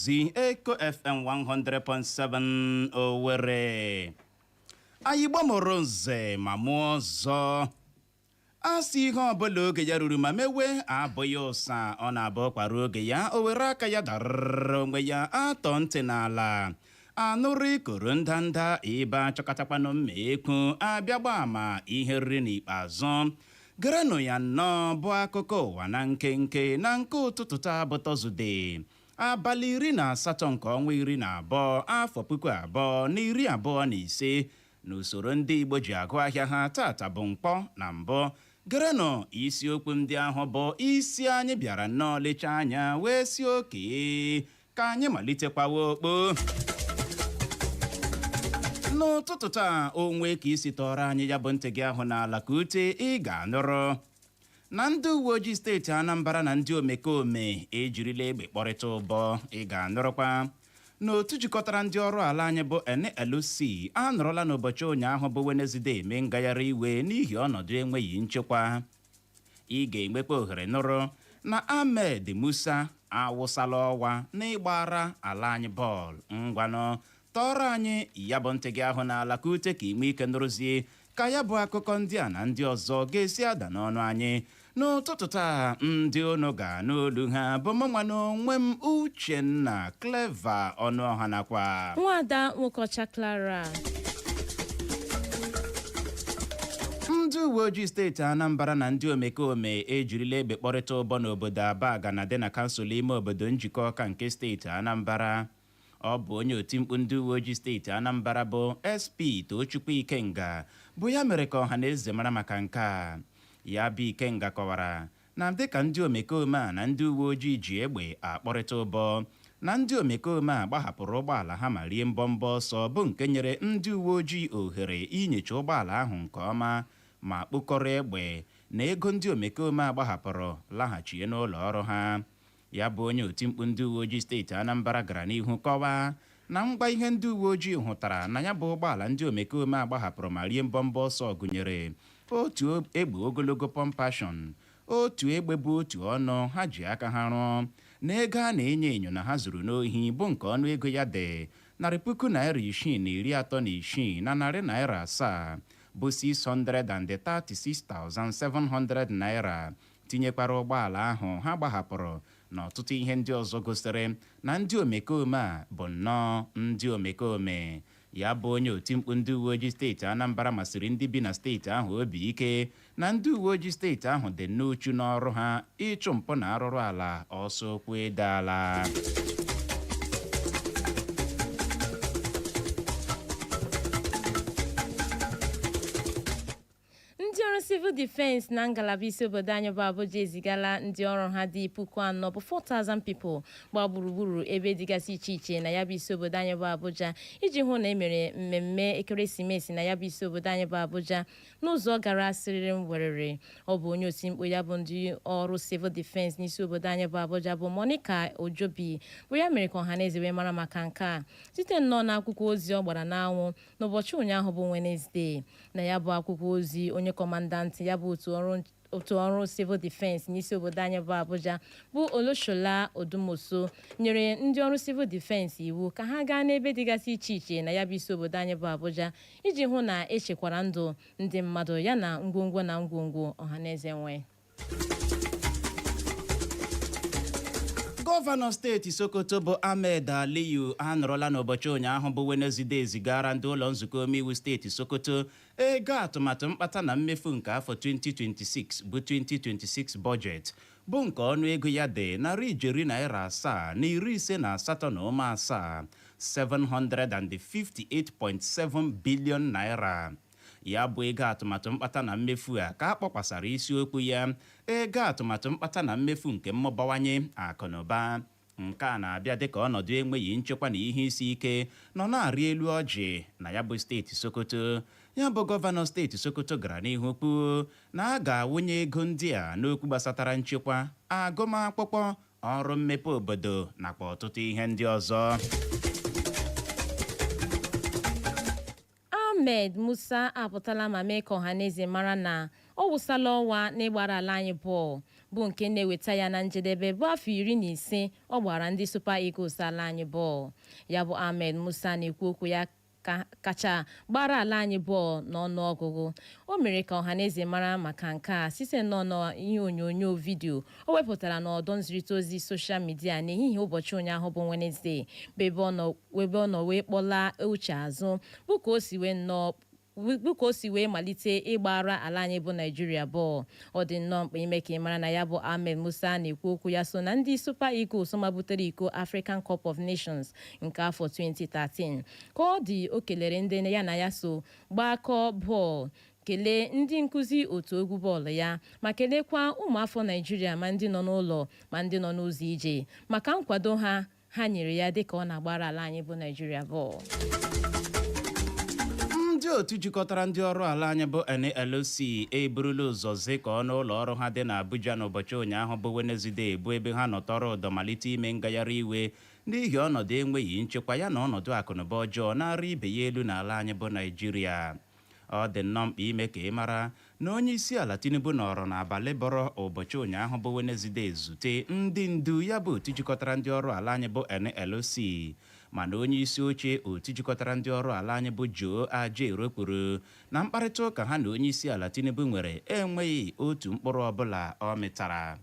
zi eko fm 100.7 owere anyị igbo mụrụ nze ma mụọ ọzọ a sị ihe ọbụla oge ya ruru ma mewe abụghị ụsa ọ na-abụ ụkwa ruo oge ya o were aka ya darara onwe ya a tọọ ntị n'ala anụrụ ikoro ndanda ebe a chọkatakwanụ mma ekwu a bịa gbaa ama ihe e riri n'ikpeazụ gerenụ ya nnọọ bụ akụkọ ụwa na nkenke na nke ụtụtụ taa bụ tọzụde abalị iri na asatọ nke ọnwa iri na abụọ afọ puku abụọ na iri abụọ na ise n'usoro ndị Igbo ji agụ ahịa ha taata bụ nkwọ na mbụ gerenụ isiokwu ndị ahụ bụ isi anyị bịara nnọọ lechaa anya wee sị oke ka anyị malitekwawa okpo n'ụtụtụ taa o nwee ka ị si tọọrọ anyị ya bụ ntị gị ahụ n'ala ka ute ị ga-anụrụ na ndị uwe ojii steeti anambra na ndị omekome ejirila egbe kpọrịta ụbọ ị ga-anụrụkwa na otu jikọtara ndị ọrụ ala anyị bụ nlc anọrọla n'ụbọchị ụnyaahụ bụ wenezde eme ngagharị iwe n'ihi ọnọdụ enweghị nchekwa ị ga-enwekwa ohere nụrụ na ahmed musa awụsala ọwa n'ịgbara ala anyị bọọlụ ngwanụ tọọrọ anyị ya bụ ntị gị ahụ n'ala ka ute ka i nwee ike nụrụzie ka ya bụ akụkọ ndị a na ndị ọzọ ga-esi ada n'ọnụ anyị n'ụtụtụ taa ndị unu ga-anụ olu ha bụ mụnwa n'onwe m uchenna clever ọnụọha nakwa nwada nwokeọcha clara ndị uwe ojii steeti anambra na ndị omekome ejirila egbe kpọrịta ụbọ n'obodo abagana dị na kansụl ime obodo njikọka nke steeti anambra Ọ bụ onye otimkpu ndị uweojii steeti Anambra bụ SP Tochukwu Ikenga bụ ya mere ka ọha na eze mara maka nke a. Ya bụ Ikenga kọwara na dịka ndị omekome a na ndị uweojii ji egbe akpọrịta ụbọ, na ndị omekome a gbahapụrụ ụgbọala ha ma rie mbọmbọ ọsọ bụ nke nyere ndị uweojii ohere inyocha ụgbọala ahụ nke ọma ma kpokọrọ egbe na ego ndị omekome a gbahapụrụ laghachie n'ụlọ ọrụ ha. Ya bụ onye otimkpu ndị uweojii steeti Anambra gara n'ihu kọwaa na ngwa ihe ndị uweojii hụtara na ya bụ ụgbọala ndị omekome a gbahapụrụ ma rie mbọmbọ ọsọ gụnyere otu egbe ogologo pọmpashọn otu egbe bu otu ọnụ ha ji aka ha rụọ na ego a na-enyo enyo na ha zuru n'ohi bụ nke ọnụ ego ya dị narị puku naira isii na iri atọ na isii na narị naira asaa bụ 636,700 naira tinyekwara ụgbọala ahụ ha gbahapụrụ na ọtụtụ ihe ndị ọzọ gosiri na ndị omekome a bụ nnọọ ndị omekome. Ya bụ onye otimkpu ndị uweojii steeti Anambra masiri ndị bi na steeti ahụ obi ike na ndị uweojii steeti ahụ dị n'uchu n'ọrụ ha ịchụ mpụ na arụrụ ala ọsọ ụkwụ ede ala. ndị ọrụ civil defense na ngalaba isi obodo anyị bụ Abuja ezigala ndị ọrụ ha dị puku anọ bụ 4,000 people gbaa gburugburu ebe dịgasị iche iche na ya bụ isi obodo anyị bụ Abuja iji hụ na e mere mmemme ekeresimesi na ya bụ isi obodo anyị bụ Abuja n'ụzọ gara siriri werere ọ bụ onye oti mkpu ya bụ ndị ọrụ civil defense n'isi obodo anyị bụ Abuja bụ Monica Ojobi bụ ya mere ka ọhaneze wee mara maka nke a site nnọọ n'akwụkwọ ozi ọ gbara n'anwụ n'ụbọchị ụnyaahụ bụ Wenezdee. Na ya bụ akwụkwọ ozi, onye kọmandantị ya bụ otu ọrụ civil defense n'isi obodo anyị bụ Abuja bụ Olusola Odumosu nyere ndị ọrụ civil defense iwu ka ha gaa n'ebe dịgasị iche iche na ya bụ isi obodo anyị bụ Abuja iji hụ na e chekwara ndụ ndị mmadụ yana ngwongwo na ngwongwo ọhaneze nwe. gọvanọ steeti sokoto bụ ahmed aliyu anọrọla n'ụbọchị ụnyaahụ bụ wenezdee zigara ndị ụlọ nzukọ omeiwu steeti sokoto ego atụmatụ mkpata na mmefu nke afọ 2026 bụ 2026 bọjetị bụ nke ọnụ ego ya dị narị ijeri naira asaa na iri ise na asatọ na ụma asaa 758.7 bilion naira Ya bụ ego atụmatụ mkpata na mmefu a ka a kpọkwasara isiokwu ya ego atụmatụ mkpata na mmefu nke mmụbawanye akụnụba. Nke a na-abịa dịka ọnọdụ enweghị nchekwa na ihe isi ike nọ na-arị elu ọjị na ya bụ steeti Sokoto. Ya bụ gọvanọ steeti Sokoto gara n'ihu kwuo na a ga-awụnye ego ndị a n'okwu gbasatara nchekwa, agụmakwụkwọ, ọrụ mmepe obodo nakwa ọtụtụ ihe ndị ọzọ. Ahmed Musa apụtala ma mee ka ọhaneze mara na ọ wụsala ọwa n'ịgbara ala anyị bọọlụ bụ nke na-eweta ya na njedebe bụ afọ iri na ise ọ gbara ndị Super Eagles ala anyị bọọlụ. Ya bụ Ahmed Musa a na-ekwu okwu ya kacha gbara ala anyị bọọlụ n'ọnụọgụgụ. O mere ka ọhaneze mara maka nke a site nnọọ n'ihe onyonyo vidio o wepụtara n'ọdọ nzirịta ozi soshal midia n'ehihie ụbọchị ụnyaahụ bụ Wenezdee bụ ebe ọ nọ bụ ebe ọ nọ wee kpọlaa uche azụ bụ ka o si wee malite ịgbara ala anyị bụ naijiria bọọlụ ọ dị nnọọ mkpa ime ka ị mara na ya bụ ahmed musa na-ekwu okwu ya so na ndị super eagles mabutere iko african cup of nations nke afọ 2013 ka ọ dị o kelere ndị ya na ya so gbakọọ bọọlụ kelee ndị nkụzi otu egwu bọọlụ ya ma kelekwa ụmụafọ naijiria ma ndị nọ n'ụlọ ma ndị nọ n'ụzọ ije maka nkwado ha ha nyere ya dịka ọ na-agbara ala anyị bụ Naịjirịa bọọlụ. ndị otu jikọtara ndị ọrụ ala anyị bụ NLC eburula ụzọ zukọọ n'ụlọ ọrụ ha dị n'Abuja n'ụbọchị ụnyaahụ bụ Wenezde bụ ebe ha nọtọrọ ụdọ malite ime ngagharị iwe n'ihi ọnọdụ enweghị nchekwa ya na ọnọdụ akụnụba ọjọọ na-arị ibe ya elu n'ala anyị bụ Naịjirịa Ọ dị nnọọ mkpa ime ka ị mara na onye isi ala Tinubu nọrọ n'abalị bọrọ ụbọchị ụnyaahụ bụ Wenezde zute ndị ndu ya bụ otu jikọtara ndị ọrụ ala anyị bụ NLC mana onye isi oche otu jikọtara ndị ọrụ ala anyị bụ Joe Ajaero kwuru na mkparịta ụka ha na onye isi ala Tinubu nwere enweghị otu mkpụrụ ọbụla ọ mịtara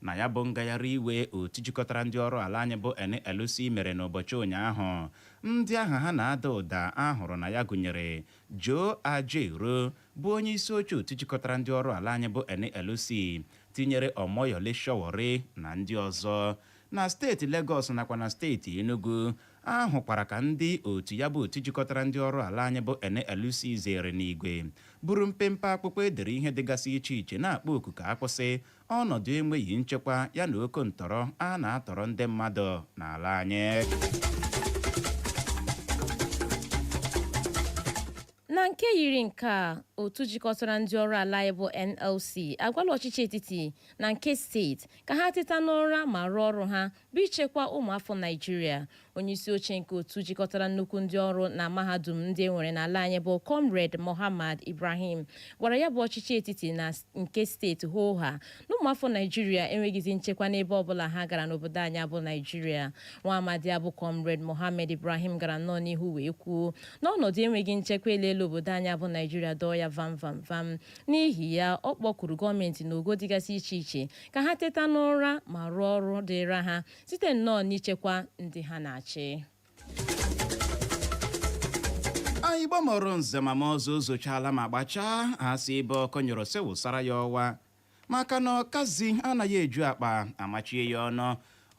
Na ya bụ ngagharịiwe otu jikọtara ndị ọrụ ala anyị bụ NLC mere n'ụbọchị ụnyaahụ, ndị aha ha na-ada ụda a hụrụ na ya gụnyere Joe Ajaero bụ onyeisi oche otu jikọtara ndị ọrụ ala anyị bụ NLC, tinyere Omoyele Sowore na ndị ọzọ. Na steeti Legọs nakwa na steeti Enugu, A hụkwara ka ndị otu ya bụ otu jikọtara ndị ọrụ ala anyị bụ NLC zere n'igwe buru mpempe akpụkpọ e dere ihe dịgasị iche iche na-akpọ oku ka a kwụsị ọnọdụ enweghị nchekwa ya na oke ntọrọ a na-atọrọ ndị mmadụ n'ala anyị. na nke yiri nke a otu jikọtara ndị ọrụ ala anyị bụ nlc agwala ọchịchị etiti na nke steeti ka ha teta n'ụra ma rụọ ọrụ ha bụ ichekwa ụmụafọ Naijiria. Onyeisioche nke otu jikọtara nnukwu ndị ọrụ na mahadum ndị e nwere n'ala anyị bụ Comrade Mohammed Ibrahim gwara ya bụ ọchịchị etiti na nke steeti hoo haa na ụmụafọ Naijiria enweghịzi nchekwa n'ebe ọbụla ha gara n'obodo anyị a bụ Naijiria. Nwa amadi a bụ Comrade Mohammed Ibrahim gara nnọọ n'ihu wee kwuo na ọnọdụ enweghị nchekwa eleela obodo anyị a bụ Naijiria dọọ ya vam vam vam. N'ihi ya, ọ kpọkuru gọọmenti n'ogo dịgasị iche iche ka ha teta n'ụra ma rụọ ọrụ dịịra ha site nnọọ n'ichekwa ndị ha na-achị anị igbo mụrụ nze ma mụọ ọzọ o zochaala ma gbachaa a sị ebe ọkụ nyụrụ sị wụsara ya ọwa maka na ọkazi anaghị eju akpa a machie ya ọnụ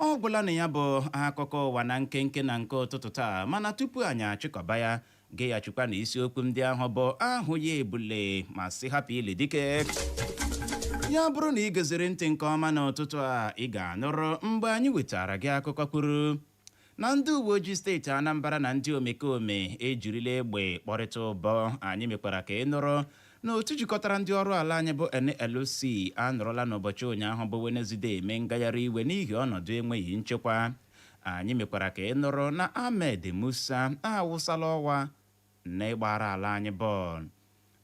ọ gwụla na ya bụ akụkọ ụwa na nkenke na nke ụtụtụ taa mana tupu anyị achịkọba ya Geghachikwa na isiokwu ndị ahụ bụ ahụ ya ebule ma sị hapụ ili dike. Ya bụrụ na ị geziri ntị nke ọma n'ụtụtụ a ị ga-anụrụ mgbe anyị wetara gị akụkọ kwuru na ndị uwe ojii steeti Anambra na ndị omekome ejirila egbe kpọrịta ụbọ anyị mekwara ka ị nụrụ na otu jikọtara ndị ọrụ ala anyị bụ NLC anọrọla n'ụbọchị ụnyaahụ bụ Wenezdee eme ngagharị iwe n'ihi ọnọdụ enweghị nchekwa Anyị mekwara ka ị nụrụ na Ahmed Musa awụsala ọwa n'ịgbara ala anyị bọọlụ.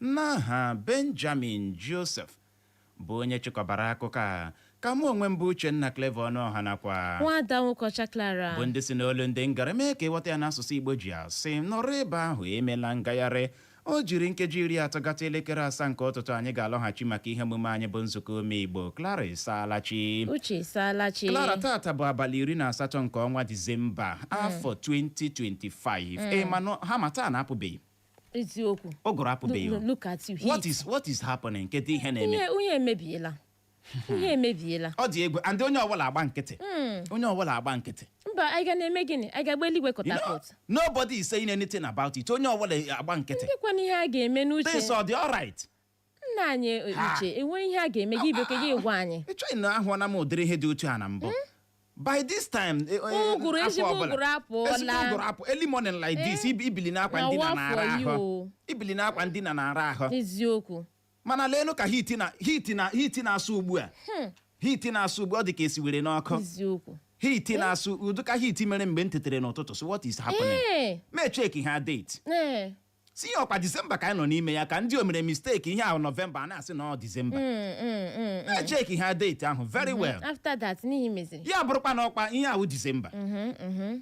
N'aha Benjamin Joseph bụ onye chịkọbara akụkọ a, ka mụ onwe m bụ Uchenna Clever Ọnụọha nakwa Nwaada Nwokocha Clara. bụ ndị si n'olu ndị ngara mee ka ị ghọta ya n'asụsụ Igbo ji asị nọrọ ebe ahụ emela ngagharị O jiri nkeji iri atọ gata elekere asaa nke ụtụtụ anyị ga-alọghachi maka ihe omume anyị bụ nzukọ ụmụ Igbo. Clara Ịsaalachi. Uche Ịsaalachi. Clara tata bụ abalị iri na asatọ nke ọnwa Disemba hmm. afọ 2025. Hmm. Ị ma harmattan apụbeghị eziokwu ụgụrụ apụbeghị what is what is happening kedu ihe na-eme ihe emebiela ihe emebiela ọ dị egwu and onye ọbụla agba nkịtị hmm. onye ọbụla agba nkịtị mba anyị ga na-eme gịnị anyị ga-agba eluigwe catapult nobody is saying anything about it onye ọbụla agba nkịtị ndịkwana ihe a ga-eme n'uche this ọ dị alright nna anyị e, uche enwe ihe a ga-eme gị ibe ka gị gwa anyị echeghị m na ahụọla m ụdịrị ihe dị otu a na mbụ hmm? by this time eh, eh, ụgụrụ ezigbo ụgụrụ apụọla ụgụrụ apụ early morning like this eh? ibili n'akwa ndina na-ara ahụ ibili n'akwa ndina na-ara ahụ eziokwu mana leenụ ka heat na heat na heat na-asụ ugbu a hmm. heat na-asụ ugbu ọ dị ka e siwere n'ọkụ heat eh? na-asụ ụdị ka heat mere mgbe m tetere n'ụtụtụ so what is happening eh. m echeckịa date eh. sị ya ọkwa disemba ka anyị nọ n'ime ya ka ndị o mere mistake ihe a wụ nọvemba a na-asị na ọ disemba m echeckịa hmm, hmm, date ahụ very mm-hmm. well ya bụrụkwa na ọkwa ihe a wụ disemba mm-hmm, mm-hmm.